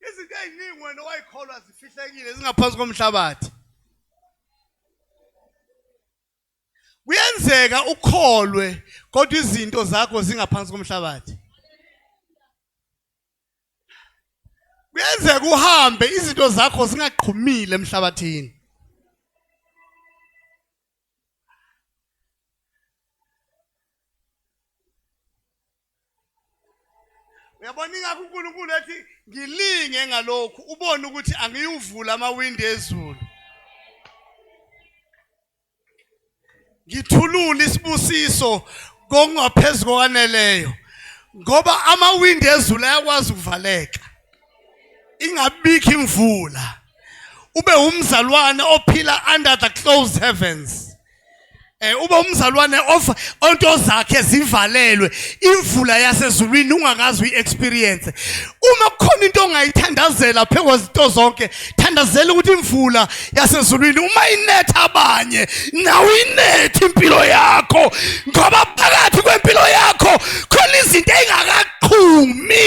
izinto eziningi wena owayikholwa zifihlekile zingaphansi komhlabathi kuyenzeka ukholwe kodwa izinto zakho zingaphansi komhlabathi kuyenzeka uhambe izinto zakho zingaqhumile emhlabathini uyabona ingakho uNkulunkulu ethi ngilinge ngalokhu ubone ukuthi angiyuvula amawindi ezulu ngithulule isibusiso kongaphezulu kokwaneleyo ngoba amawindi ezulu ayakwazi ukuvaleka ingabikho imvula ube umzalwane ophila under the closed heavens eh ube umzalwane of onto zakhe zivalelwe imvula yasezulwini ungakazi uyi-experience uma kukhona into ongayithandazela phekwezito zonke thandazela ukuthi imvula yasezulwini uma inetha abanye nawe inethe impilo yakho ngoba phakathi kwempilo yakho khona izinto engakaqhumi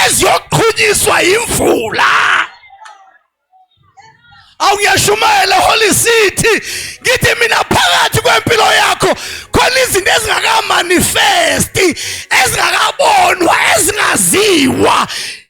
eziyoqhunyiswa imvula awuyashumayela holy city ngithi mina phakathi kwempilo yakho khona izinto ezingakamanifesti ezingakabonwa ezingaziwa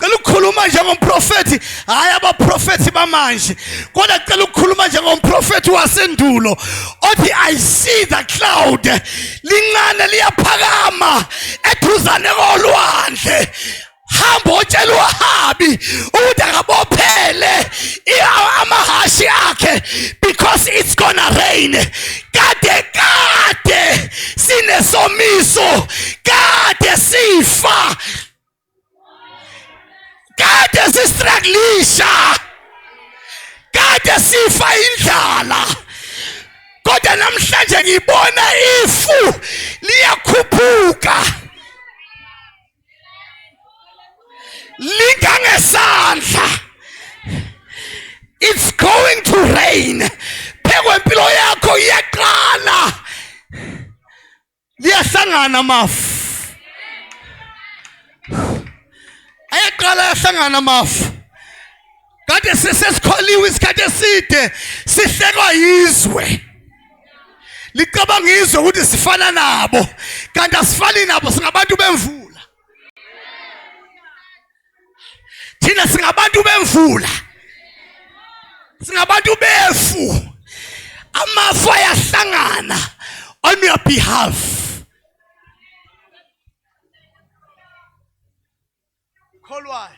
cela ukukhuluma njengomprofethi hhayi abaprofethi bamanje kodwa cela ukukhuluma njengomprofethi wasendulo othi i see the cloud lincane liyaphakama eduzane kolwandle hamba otshela uhabi ukuthi akabophele amahhashi akhe because it's gonna rain kade kade sinesomiso kade sifa kade sistruglisha kade sifa indlala kodwa namhlanje ngibona ifu liyakhuphuka lingangesandla it's going to rain phekwempilo yakho iyaqala liyahlangana amafu ayaqala ayahlangana amafu kade sesesikholiwe isikhathi eside sihlekwa yizwe licabanga izwe ukuthi sifana nabo kanti asifani nabo singabantu bemvula thina singabantu bemvula singabantu befu amafu ayahlangana on your behalf kholwayo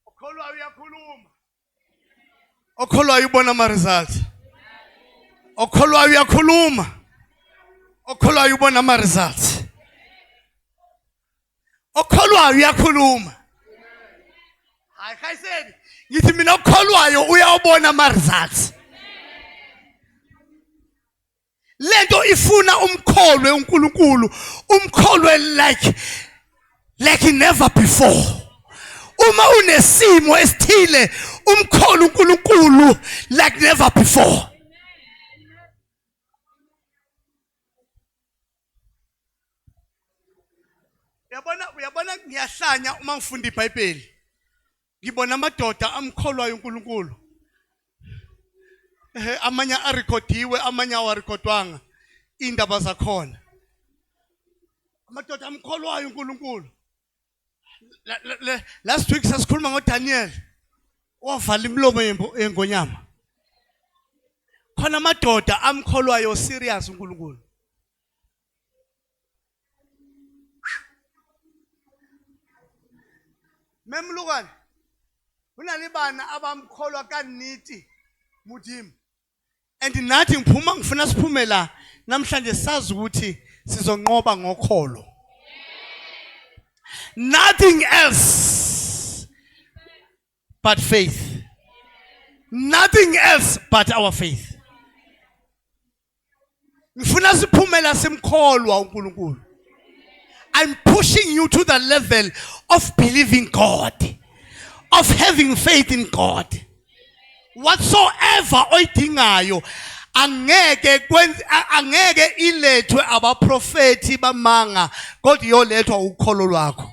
ukholwayo uyakhuluma okholwayo ubona ama results okholwayo uyakhuluma okholwayo ubona ama results okholwayo uyakhuluma hayi khayiseni ngithi mina okholwayo uyawubona ama results lento ifuna umkholwe uNkulunkulu umkholwe like like never before uma unesimo esithile umkholo uNkulunkulu like never before uyabona uyabona ngiyahlanya uma ngifunda iBhayibheli ngibona amadoda amkholwayo uNkulunkulu ehe amanye arekhodiwe amanye awarekhodwanga indaba zakhona amadoda amkholwayo uNkulunkulu last week sasikhuluma ngoDaniel ovala imilomo yengonyama khona amadoda amkholwayo serious uNkulunkulu memlukane go na le bana a ba mkgolwa ka nnete modimo and nathi ngiphuma ngifuna siphume la namhlanje sazi ukuthi sizonqoba ngokholo nothing else but faith. Nothing else but our faith. Ngifuna siphumela simkholwa uNkulunkulu. I'm pushing you to the level of believing God, of having faith in God. Whatsoever oyidingayo angeke kwenze angeke ilethwe abaprofeti bamanga kodwa iyolethwa ukholo lwakho.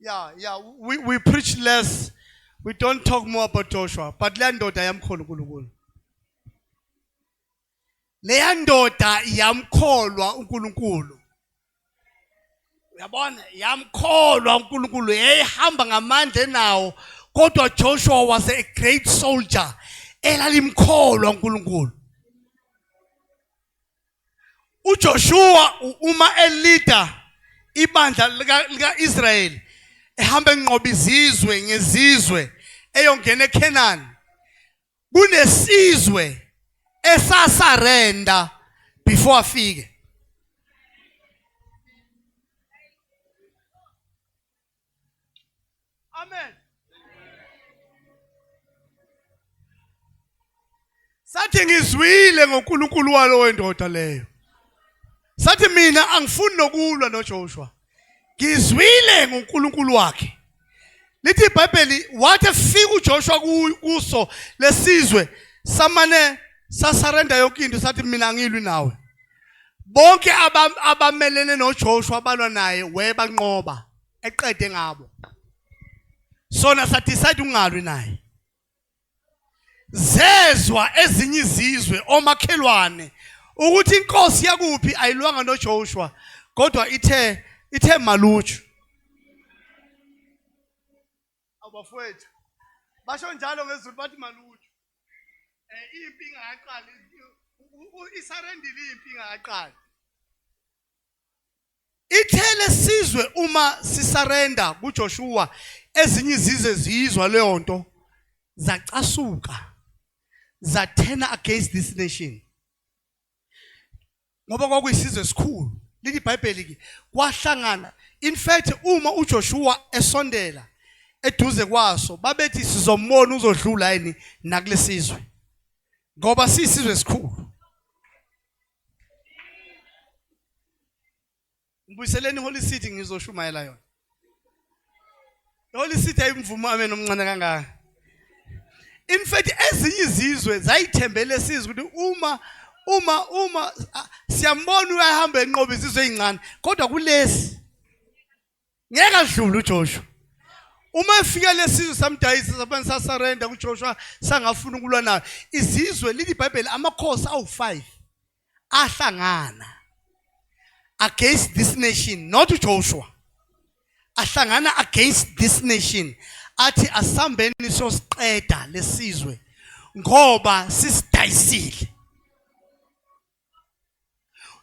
Yeah, yeah, we, we preach less. We don't talk more about Joshua. But le ndoda yamkholwa uNkulunkulu. Le ndoda yamkholwa uNkulunkulu. Uyabona, yamkholwa uNkulunkulu. Yayihamba ngamandla enawo. Kodwa Joshua was a great soldier. Elalimkholwa uNkulunkulu. uJoshua uma elida ibandla lika-Israyeli ehamba enqoba izizwe ngezizwe eyongena eKhenani kunesizwe esasarenda before afike Amen. Sathi ngizwile ngoNkulunkulu walowo wendoda leyo. Sathi mina angifuni nokulwa noJoshua. Ngizwile ngoNkulunkulu wakhe. Lithi iBhayibheli wathi efika uJoshua kuso lesizwe samane sasarenda yonke into sathi mina angilwi nawe. bonke abamelene noJoshua abalwa naye webanqoba eqede ngabo sona sadecide ukungalwi naye zezwa ezinye izizwe omakhelwane ukuthi inkosi yakuphi ayilwanga noJoshua kodwa ithe ithe maluju abafowethu basho njalo ngezulu bathi malutho eh impi ingaqali isarendile impi ingaqali ithele sizwe uma sisarenda kuJoshua ezinye izizwe ziyizwa leyo nto zacasuka zathena against this nation ngoba kwakuyisizwe esikhulu lithi ibhayibheli ke kwahlangana in fact uma uJoshua esondela eduze kwaso babethi sizombona uzodlula yini nakulesizwe ngoba sisizwe esikhulu Ngibuyiseleni Holy City ngizoshumayela yona. Holy City ayimvumo amen omncane kangaka. In fact ezinye izizwe zayithembele sizwe ukuthi uma uma uma siyambona uyahamba enqoba izizwe ezincane kodwa kulesi ngeke adlule uJoshua uma efika lesizwe samdayisa sabani sasarenda kuJoshua sangafuna ukulwa nayo izizwe lili iBhayibheli amakhosi awu5 ahlangana against this nation not uJoshua ahlangana against this nation athi asambeni sosiqeda lesizwe ngoba sisidayisile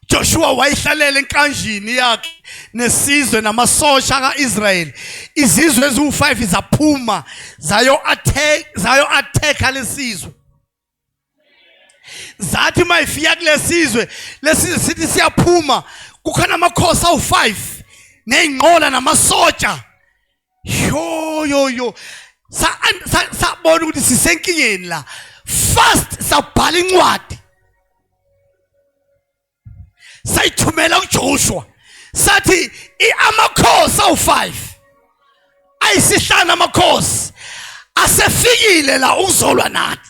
Joshua wayihlalela enkanjini yakhe nesizwe namasosha kaIsrayeli izizwe eziwu5 zaphuma zayo attack zayo attack lesizwe zathi mayifika kulesizwe lesizwe sithi siyaphuma kukhona amakhosi awu5 nezinqola namasoja yo yo yo sabona ukuthi sisenkingeni la fast sabhala incwadi sayithumela kuJoshua sathi amakhosi awu5 ayisihlanu amakhosi asefikile la ukuzolwa nathi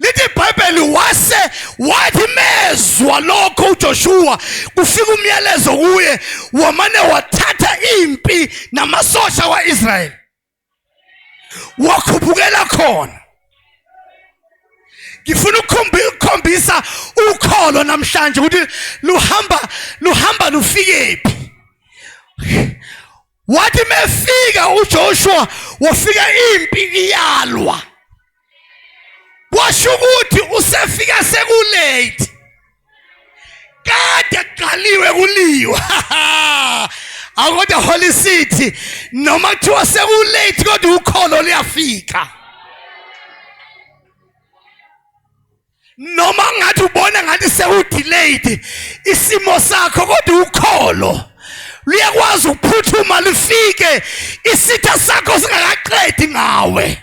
lithi ibhayibheli wase wathi mezwa lokho ujoshuwa kufika umyalezo kuye wamane wathatha impi namasosha kwa-israyeli wakhuphukela khona ngifuna ukukhombisa ukholo namhlanje ukuthi luhamba luhamba lufikephi wathi mefika uJoshua wafika impi iyalwa washo ukuthi usefika sekulate kade kuqaliwe kuliwa akodwa holy city noma kuthiwa sekulate kodwa ukholo liyafika noma ngathi ubona ngathi sewudelayed isimo sakho kodwa ukholo luyakwazi ukuphuthuma lifike isitha sakho singakaqedi ngawe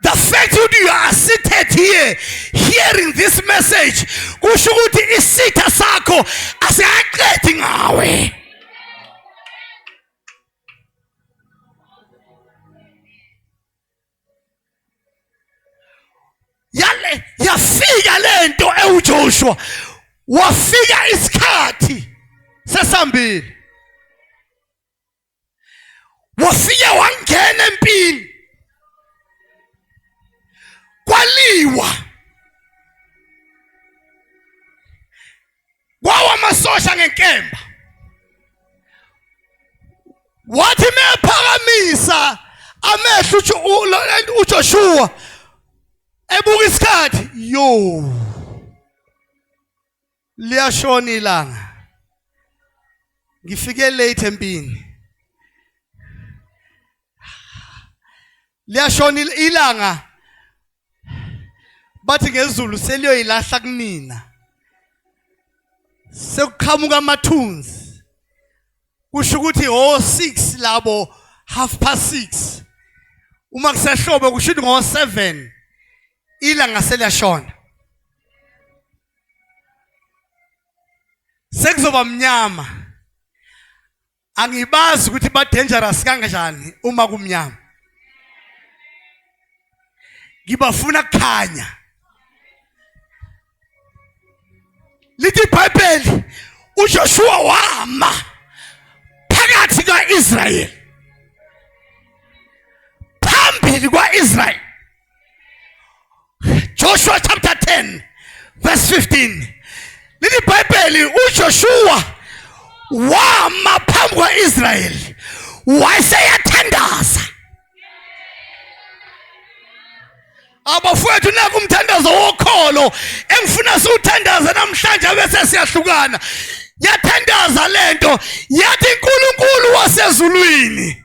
the fact that you are seated here hearing this message kusho ukuthi isitha sakho asingaqedi ngawe yale yafika lento ewuJoshua wafika isikhathi sesambile wafike wangena empini kwaliwa kwawa amasosha ngenkemba wathi mephakamisa amehlo uJoshua ebuka isikhathi yo liyashona ilanga ngifike late empini liyashona ilanga bathi ngezulu seliyoyilahla kunina sekuqhamuka amathunzi kusho ukuthi ho 6 labo half past 6 uma kusehlobo kusho ukuthi ngo 7 ilanga seliyashona sekuzoba mnyama angibazi ukuthi ba dangerous kanjani uma kumnyama ngibafuna kukhanya lithi ibhayibheli uJoshua wama phakathi kaIsrael phambili kwaIsrael Joshua chapter 10 verse 15 leli bhayibheli uJoshua wama phambi kwa-Israyeli wayeseyathandaza abafowethu naku umthandazo wokholo engifuna siwuthandaze namhlanje abese siyahlukana yathandaza lento yathi uNkulunkulu wasezulwini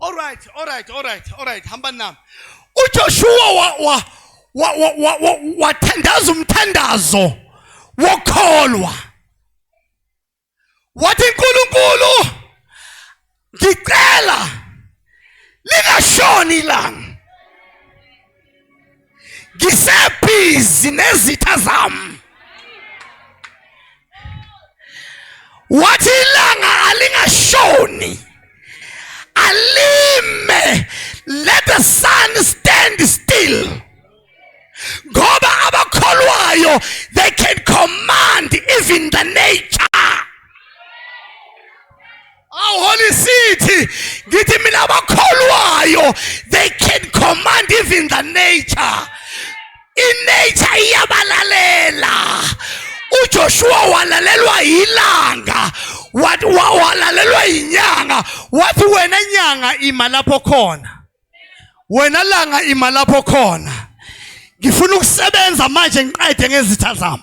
Alright, alright, alright, alright, hamba nami. UJoshua wa wa wa wa wa, wa, wa thandaza umthandazo wokholwa. Wathi uNkulunkulu ngicela lingashoni ilanga ngisebhizi nezitha zami wathi ilanga alingashoni alime let the sun stand still ngoba abakholwayo they can command even the nature awu holy city ngithi mina abakholwayo they can command even the nature inature iyabalalela uJoshua walalelwa yilanga wathi walalelwa yinyanga wathi wena nyanga ima lapho khona wena langa ima lapho khona ngifuna ukusebenza manje ngiqede ngezitha zami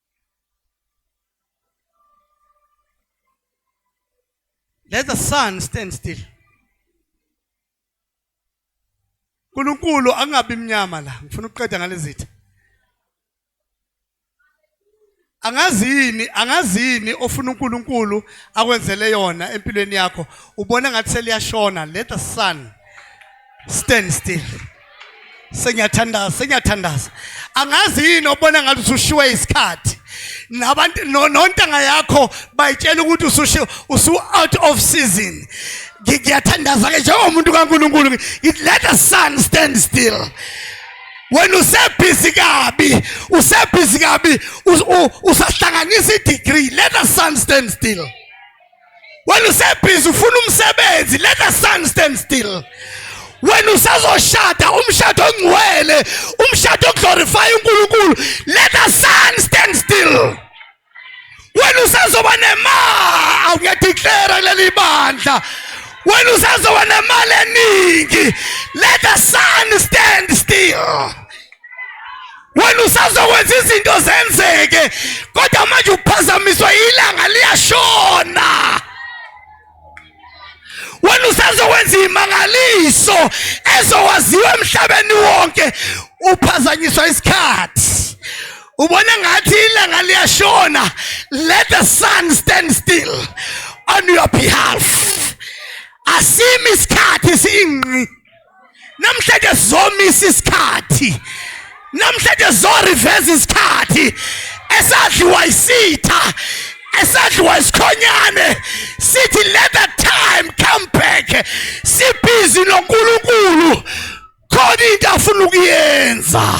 Let the sun stand still. uNkulunkulu angabi mnyama la ngifuna ukuqeda ngalezitha angazini angazini ofuna uNkulunkulu akwenzele yona empilweni yakho ubona ngathi seliyashona let the sun stand still sengiyathandaza sengiyathandaza angazi yini obona ngathi usushiwe isikhathi nabantu nontanga yakho bayitshela ukuthi usushiwe usu out of season ngiyathandaza ke njengomuntu kaNkuluNkulu ngithi let the sun stand still wena usebhizi kabi usebhizi kabi usahlanganisa i-degree let the sun stand still wena usebhizi ufuna umsebenzi let the sun stand still wena usazoshada umshado ongcwele umshado oglorify uNkulunkulu let the sun stand still wena usazoba nemali awuyadeclare leli bandla wena usazoba nemali eningi let the sun stand still wena usazokwenza izinto zenzeke kodwa manje uphazamiswa ilanga liyashona wena usazokwenza imangaliso ezowaziwa emhlabeni wonke uphazanyiswa isikhathi ubona ngathi ilanga liyashona let the sun stand still on your behalf asimi isikhathi singqi namhlanje zomisa isikhathi namhlanje zoriveza isikhathi esadliwa isitha esadliwa isikhonyane sithi let the time come back sibhizi nonkulunkulu khona into afuna ukuyenza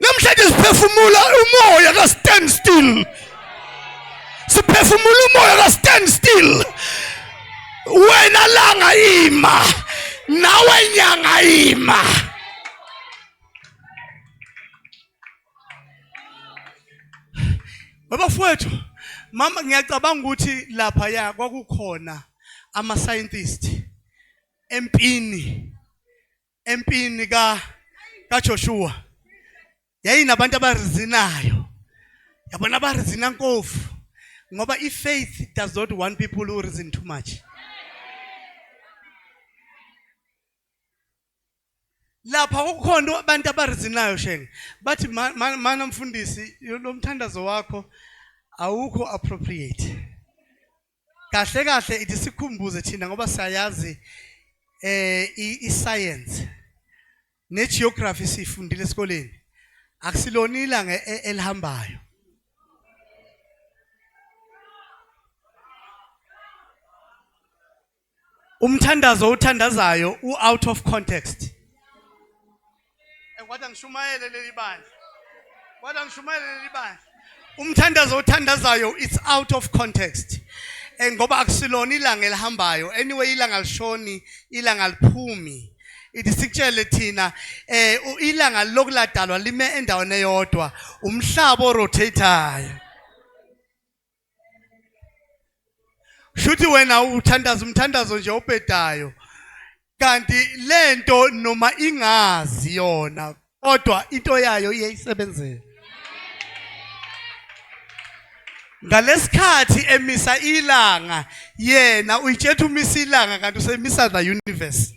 namhlanje siphefumula umoya ka stand still siphefumula umoya ka stand still wena langa ima nawe nyanga ima Babafowethu, mama ngiyacabanga ukuthi lapha ya kwakukhona ama scientist empini empini ka kaJoshua yayinabantu abarizinayo yabona abarizina nkofu ngoba ifaith does not want people who reason too much lapha kukhona abantu abarizinayo shenge bathi mana mfundisi lo mthandazo wakho awukho appropriate kahle kahle ithi sikhumbuze thina ngoba siyayazi eh i-science ne-geography siyifundile esikoleni akusilona ilanga e-, elihambayo umthandazo uthandazayo u out of context kwathi angishumayele leli bandla kwathi angishumayele leli bandla umthandazo othandazayo it's out of context eh, ngoba akusilona ilanga elihambayo anyway ilanga lishoni ilanga liphumi ithi sikutshele thina eh ilanga lokuladalwa lime endaweni eyodwa umhlaba orotatayo shuthi wena uthandaza umthandazo nje obhedayo kanti lento noma ingazi yona kodwa into yayo iyayisebenzela ngalesikhathi emisa ilanga yena uyitshetha umisa ilanga kanti usemisa the universe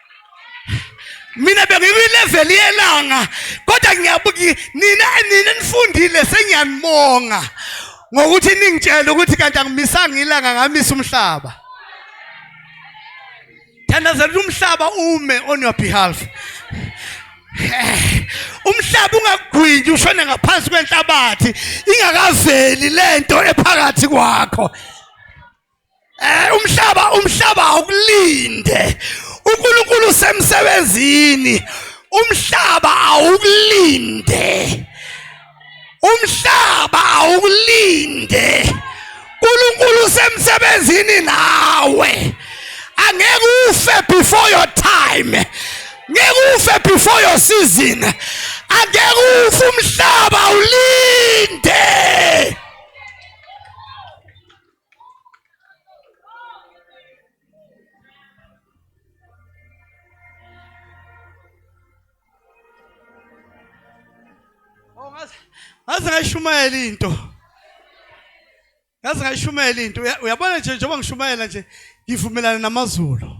mina bengikwilevel yelanga kodwa ngiyabuki nina nina nifundile sengiyanibonga ngokuthi ningitshela ukuthi kanti angimisanga ilanga ngamisa umhlaba thandazela umhlaba ume on your behalf umhlaba ungagwinyi ushone ngaphansi kwenhlabathi ingakaveli lento ephakathi kwakho Eh umhlaba umhlaba awukulinde. uNkulunkulu usemsebenzini umhlaba awukulinde umhlaba awukulinde uNkulunkulu usemsebenzini nawe angeke ufe before your time ngeke ufe before your season angeke ufe umhlaba ulinde ngaze ngayishumayela into ngaze ngayishumayela into uyabona nje njengoba ngishumayela nje ngivumelana namazulu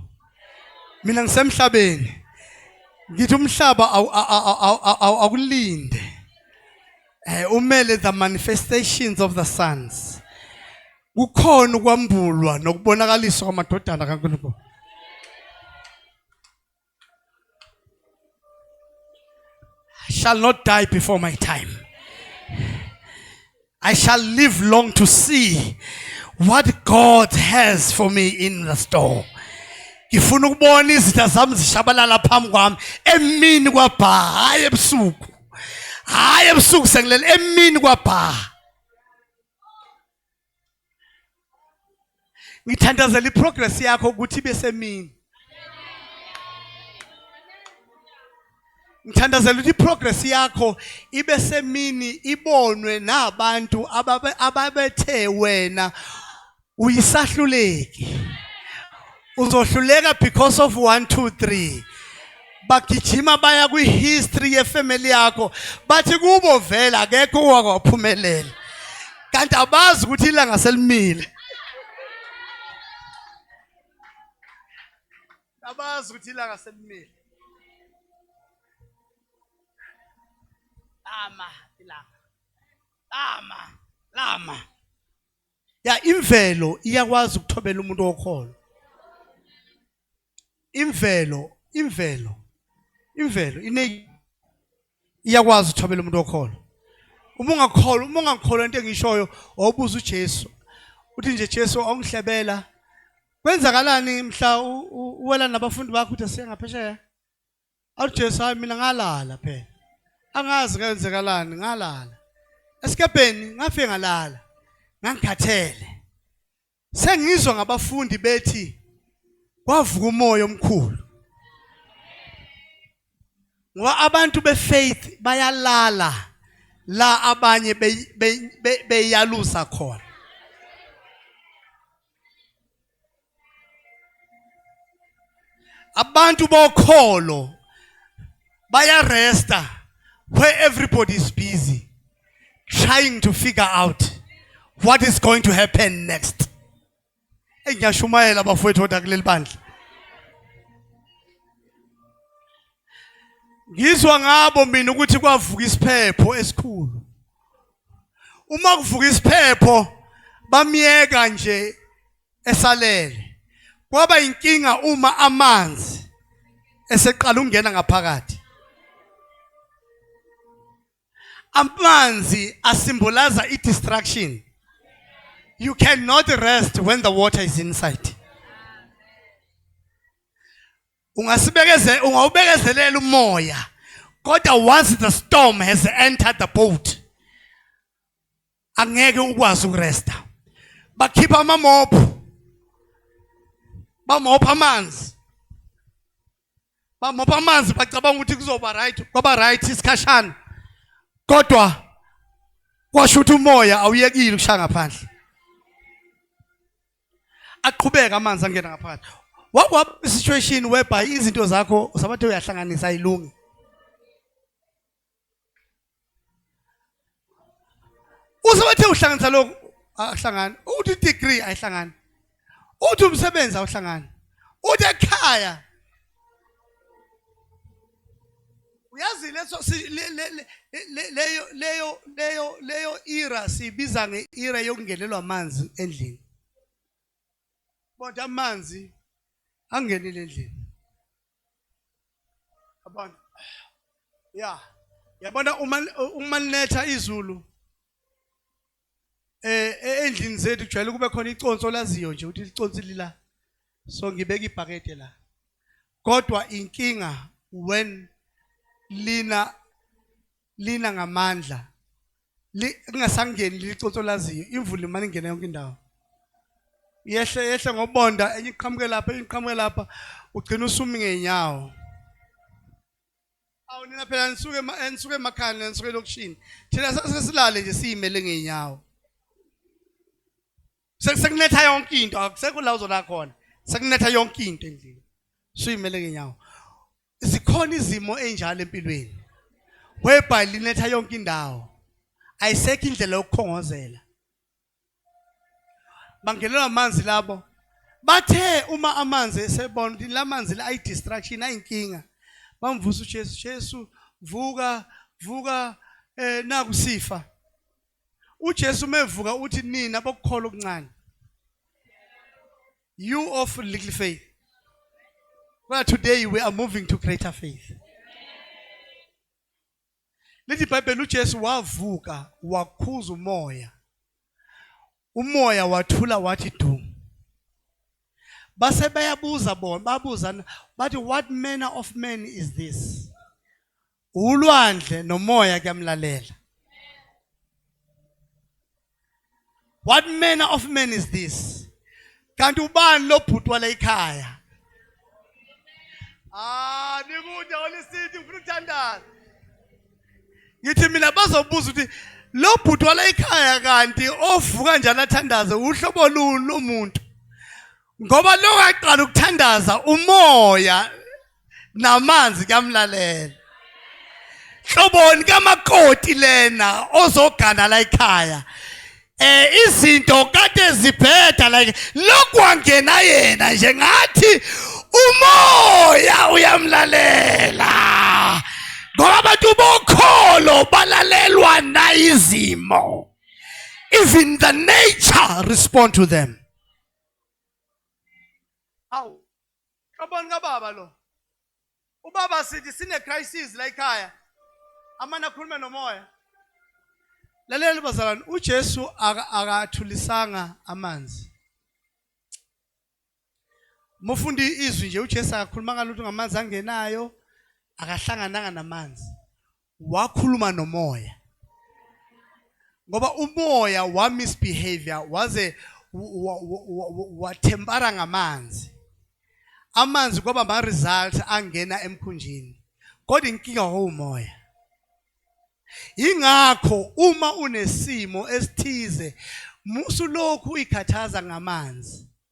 mina ngisemhlabeni ngithi umhlaba awulinde Eh umele the manifestations of the sons. Kukhona ukwambulwa nokubonakaliswa kwamadodana kaNkulunkulu. I shall not die before my time. I shall live long to see what God has for me in the store. Ngifuna ukubona izitha zami zishabalala phambi kwami emini kwabha hayi ebusuku. hayi ebusuku sengilele emini kwabhaha ngithandazela iprogress yakho ukuthi ibe semini ngithandazela ukuthi iprogress yakho ibe semini ibonwe nabantu ababethe wena uyisahluleki uzohluleka because of 1 2 3 bagijima baya kwi-history yefamily yakho bathi kubo vela akekho owakaphumelela kanti abazi ukuthi ilanga selimile abazi ukuthi ilanga selimile lama ilanga lama lama ya imvelo iyakwazi ukuthobela umuntu wokholo imvelo imvelo imvelo ine iyakwazi ukuthobela umuntu wokholo uma ungakholwa uma ungakholwa into engishoyo wawubuza uJesu uthi nje Jesu awungihlebela kwenzakalani mhla uwela nabafundi bakho uthi siya ngaphesheya Awu Jesu hayi mina ngalala phela. Angazi kwenzekalani ngalala. Esikebheni ngafike ngalala. Ngangikhathele. Sengizwa ngabafundi bethi kwavuka umoya omkhulu. Ngoba abantu befaith bayalala la abanye beyalusa khona. abantu bokholo bayaresta where everybody is busy trying to figure out what is going to happen next eyi ngiyashumayela abafowethu oda kuleli bandla ngizwa ngabo mina ukuthi kwavuka isiphepho esikhulu uma kuvuka isiphepho bamyeka nje esalele kwaba inkinga uma amanzi eseqala ukungena ngaphakathi amanzi asimbolaza i-distraction you cannot rest when the water is inside ungasibekezela ungawubekezelela umoya kodwa once the storm has entered the boat angeke ukwazi ukuresta bakhipha amamophu bamopha amanzi bamopha amanzi bacabanga ukuthi kuzoba right kwaba right isikhashana kodwa kwasho ukuthi umoya awuyekile ukushaya ngaphandle aqhubeka amanzi angena ngaphakathi wakwa situation whereby izinto zakho usabathe uyahlanganisa ayilungi usabathe uhlanganisa lokho ahlangani uthi degree ayihlangani uthi umsebenzi awuhlangani uthi ekhaya uyazi leso leyo leyo leyo leyo era sibiza ngeera yokungenelwa amanzi endlini kodwa amanzi angenile endlini yabona ya yabona uma uma linetha izulu eh, eh endlini zethu kujwayele kube khona iconsi olaziyo nje ukuthi liconsi lila so ngibeka ibhakede la kodwa inkinga when lina lina ngamandla lingasangeni liconsi olaziyo imvula imane ingena yonke indawo yehle yehle ngobonda enye iqhamuke lapha enye iqhamuke lapha ugcina usumi ngenyawo awu nina phela nisuke nisuke emakhaya nina nisuke elokishini thina sesilale nje siyimele ngeenyawo sekunetha yonke into akusekho la uzona khona sekunetha yonke into endlini suyimele ngenyawo zikhona izimo enjalo empilweni whereby linetha yonke indawo ayisekho indlela yokukhongozela bangenelwa amanzi labo bathe uma amanzi esebona ukuthi lamanzi la ayidistraction ayinkinga bamvusa uJesu Jesu vuka vuka eh naku sifa uJesu mevuka uthi nina bokukhola okuncane you of little faith well today we are moving to greater faith Lithi iBhayibheli uJesu wavuka wakhuza umoya. Umoya wathula wathi du. Base bayabuza bona, babuza bathi what manner of man is this? Ulwandle nomoya kuyamlalela. what manner of man is this kanti ubani lobhuti wala ikhaya ah nikude holy city ngifuna ukuthandaza ngithi mina bazobuza ukuthi lo bhuti wala ikhaya kanti ovuka njalo athandaze uhlobo luni lomuntu ngoba lokaqala ukuthandaza umoya namanzi kuyamlalela hloboni kamakoti lena ozogana la ekhaya eh izinto kade zibheda like lokwangena yena nje ngathi umoya uyamlalela ngoba abantu bokholo balalelwa nayizimo even the nature respond to them Xabani kababa lo. Ubaba sithi sine crisis la ekhaya. Amana akhulume nomoya. Lalela bazalwane, uJesu aka- akathulisanga amanzi. Mufundi izwi nje uJesu akakhulumanga lutho ngamanzi angenayo, akahlangananga namanzi. wakhuluma nomoya ngoba umoya wa misbehavior waze wathempara ngamanzi amanzi kwaba ma result angena emkhunjini kodwa inkinga wawumoya ingakho uma unesimo esithize musu lokhu uyikhathaza ngamanzi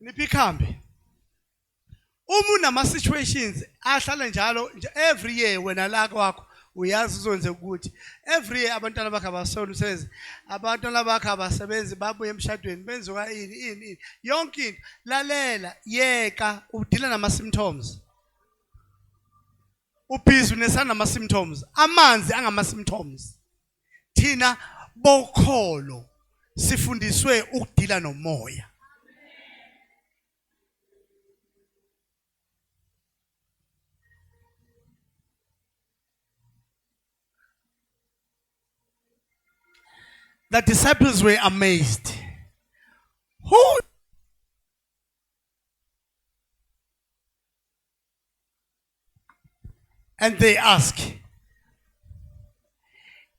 niphi ikhambi uma unama-situations ahlale njalo every year wena la kwakho uyazi uzonze ukuthi every year abantwana bakhe abasona umsebenzi abantwana bakhe abasebenzi babuye emshadweni benziwa ini ini ini yonke into lalela yeka udila nama-symptoms ubhizi unesanama-symptoms amanzi angama-symptoms thina bokholo sifundiswe ukudila nomoya The disciples were amazed. Who And they ask,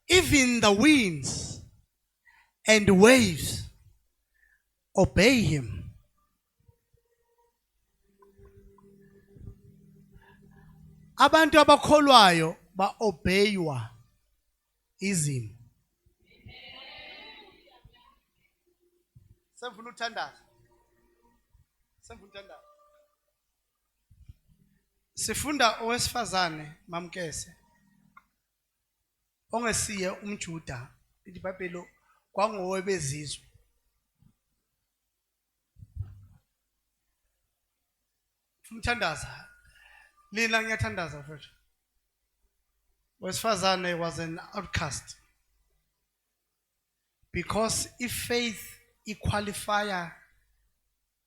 even the winds and waves obey him. Abantu abakholwayo baobeywa izimo. Sengifuna uthandaza. Sengifuna uthandaza. Sifunda owesifazane mamkese ongesiye umJuda iBhayibheli kwangowebezizwe. Umthandaza. Lina ngiyathandaza mfethu. Wesifazane was an outcast. Because if faith iqualifier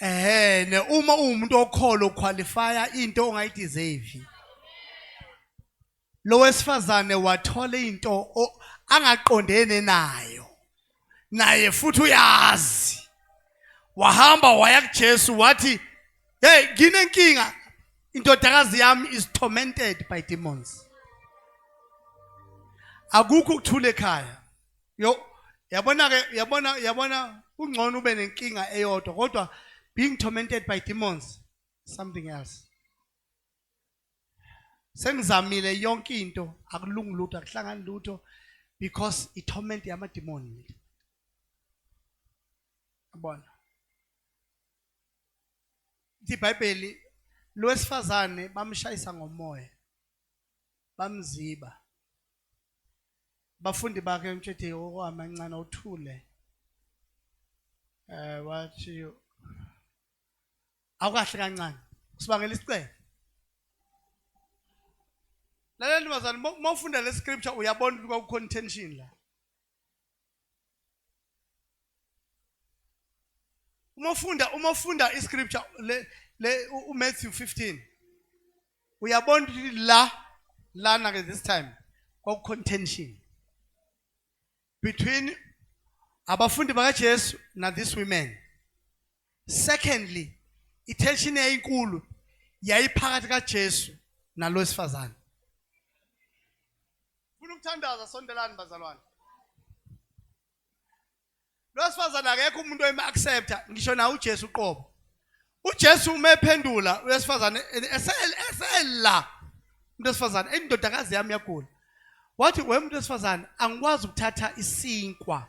ehene uma uwumuntu okholo qualifya into ongayideserve lo wesifazane wathola into angaqondene nayo naye futhi uyazi wahamba waya kuJesu wathi hey nginenkinga indodakazi yami is tormented by demons akukho ukuthula ekhaya yo yabona ke yabona yabona kungcono ube nenkinga eyodwa kodwa being tormented by demons something else sengizamile yonke into akulungi lutho akuhlangani lutho because i torment yamademoni mina yabona iBhayibheli lowesifazane bamshayisa ngomoya bamziba. Abafundi bakhe umtshithe okwamancane uthule. Eh wathi awukahle kancane. Usibangela isicelo. Lalela ntombazane uma ufunda le scripture uyabona ukuthi kwakukhona intention la. uma ufunda uma ufunda iscripture le le uMatthew 15 uyabona ukuthi la lana ke this time kwakucontention between abafundi bakaJesu na this women secondly itension yayinkulu yayiphakathi kaJesu nalosifazana Funa ukuthandaza sondelani bazalwane. Losifazana akekho umuntu oyima accepta ngisho na uJesu uqobo. uJesu uma ephendula wesifazane esela umuntu wesifazane indodakazi yami yagula wathi wemuntu wesifazane angikwazi ukuthatha isinkwa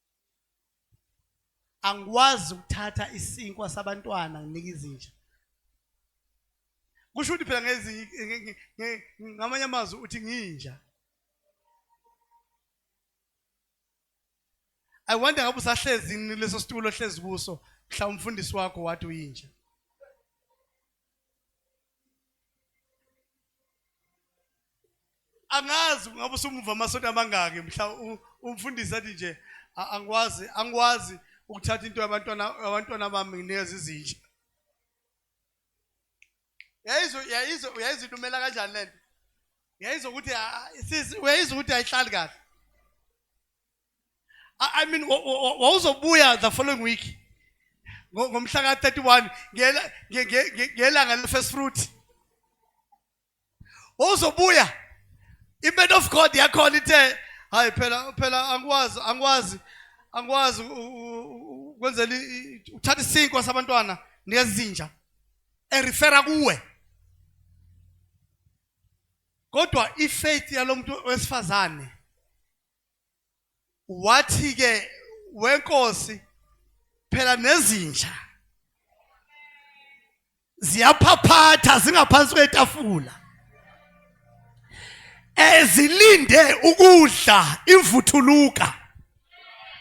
angikwazi ukuthatha isinkwa sabantwana nginika izinja kusho ukuthi phela ngezi ngamanye amazwi uthi nginja I wonder ngabe usahlezi leso situlo ohlezi kuso mhla umfundisi wakho wathi uyinja angazi ngabe usumuva amasonto amangaki mhla umfundisi athi nje angikwazi angikwazi ukuthatha into yabantwana abantwana bami nginikeza izinja yayizo yayizo yayizo ilumela kanjani lento yayizo ukuthi sisi uyayizo ukuthi ayihlali kahle I mean wawuzobuya the following week ngomhla ka-31 ngelanga le-first fruit wawuzobuya i-man of god yakhona ithe hayi phela phela angikwazi angikwazi angikwazi kwenzela uthatha isinkwa sabantwana nezinja erifera kuwe kodwa ifaith yalomuntu wesifazane wathi-ke wenkosi phela nezinja ziyaphaphatha zingaphansi kwetafula ezilinde ukudla imvuthuluka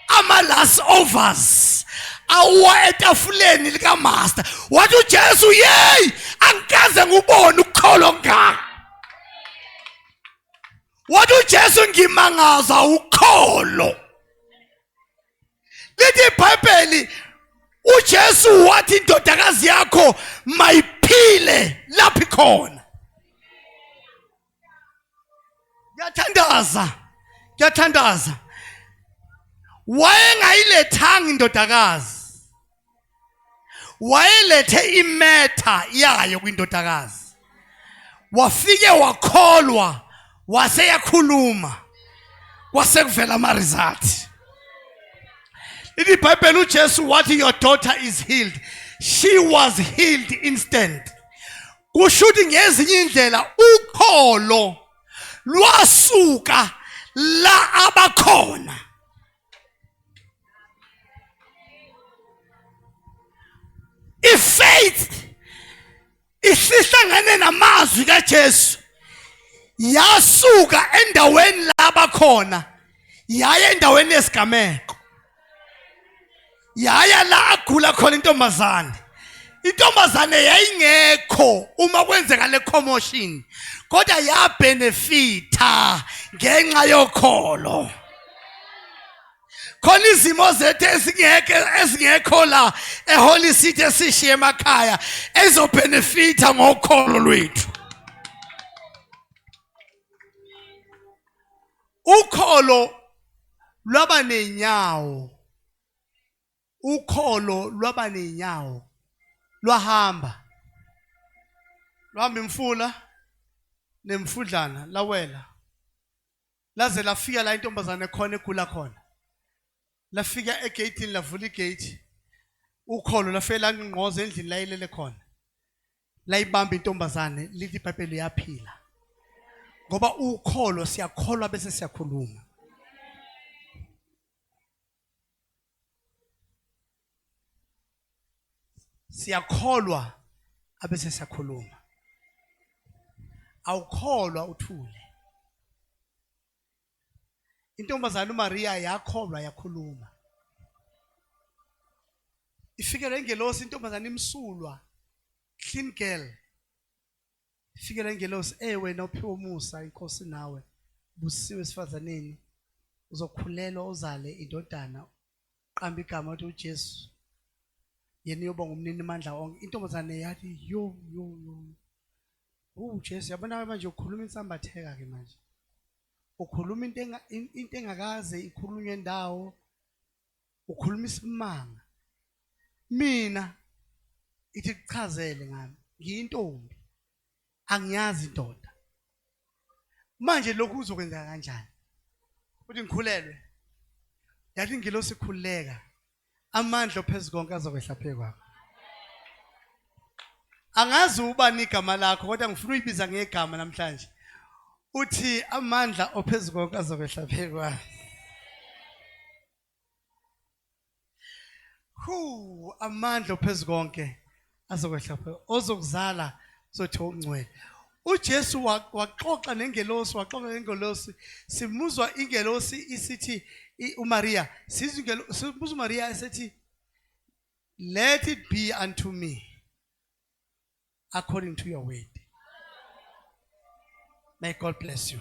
ama last overs awuwa etafuleni likamaster wathi uJesu yey angikaze ngubone ukukholwa ngaka wathi uJesu ngimangaza ukholo lithi ibhayibheli uJesu wathi indodakazi yakho mayiphile lapho ikhona ngiyathandaza ngiyathandaza wayengayilethanga indodakazi wayelethe imetha yayo kwindodakazi wafike wakholwa wase yakhuluma kwase kuvela ama-result lithi ibhayibheli ujesu wathi your daughter is healed she was healed instant kusho ukuthi ngezinye indlela ukholo lwasuka la abakhona ifaith isihlangane namazwi kaJesu yasuka endaweni laba khona yaye endaweni yesigameko yaya la agula khona intombazane intombazane yayingekho uma kwenzeka le commotion kodwa yabenefitha ngenxa yokholo khona izimo zethu ezingeke ezingekho la eholy city esishiye emakhaya ezobhenefitha ngokholo lwethu ukholo lwaba nenyawo ukholo lwaba ney'nyawo lwahamba lwahamba imfula nemfudlana lawela laze lafika la intombazane khona egula khona lafika egeyitini lavula igeyiti ukholo lafike langqoza endlini layilele khona layibamba intombazane lithi ibhayibheli uyaphila ngoba ukholo siyakholwa bese siyakhuluma siyakholwa abese siyakhuluma awukholwa uthule intombazana uMaria yakholwa yakhuluma ifikele ingelosi intombazana imsulwa clean girl Ifike le ngelosi, e wena ophiwe umusa inkosi nawe, busiwe esifazaneni, uzokhulelwa uzale indodana, qamba igama uthi uJesu, yena uyoba ngumnini mandla onke. Intombazane yathi yo yo yo, uJesu yabona manje ukhuluma insambatheka ke manje ukhuluma into into engakaze ikhulunywe ndawo ukhuluma isimanga mina ithi kuchazele ngami ngiyintombi angiyazi indoda manje lokhu uzokwenzeka kanjani uthi ngikhulelwe yathi ngilo sikhuleka amandla ophezu konke azokwehla phezu kwakho angazi ubani igama lakho kodwa ngifuna uyibiza ngegama namhlanje uthi amandla ophezu konke azokwehla phezu kwakho Hu amandla phezu konke azokwehla phezu ozokuzala sothi ungcwele. UJesu waxoxa nengelosi waxoxa nengelosi simuzwa ingelosi isithi uMaria sizwe ingelosi sibuza uMaria esethi let it be unto me according to your word. May God bless you.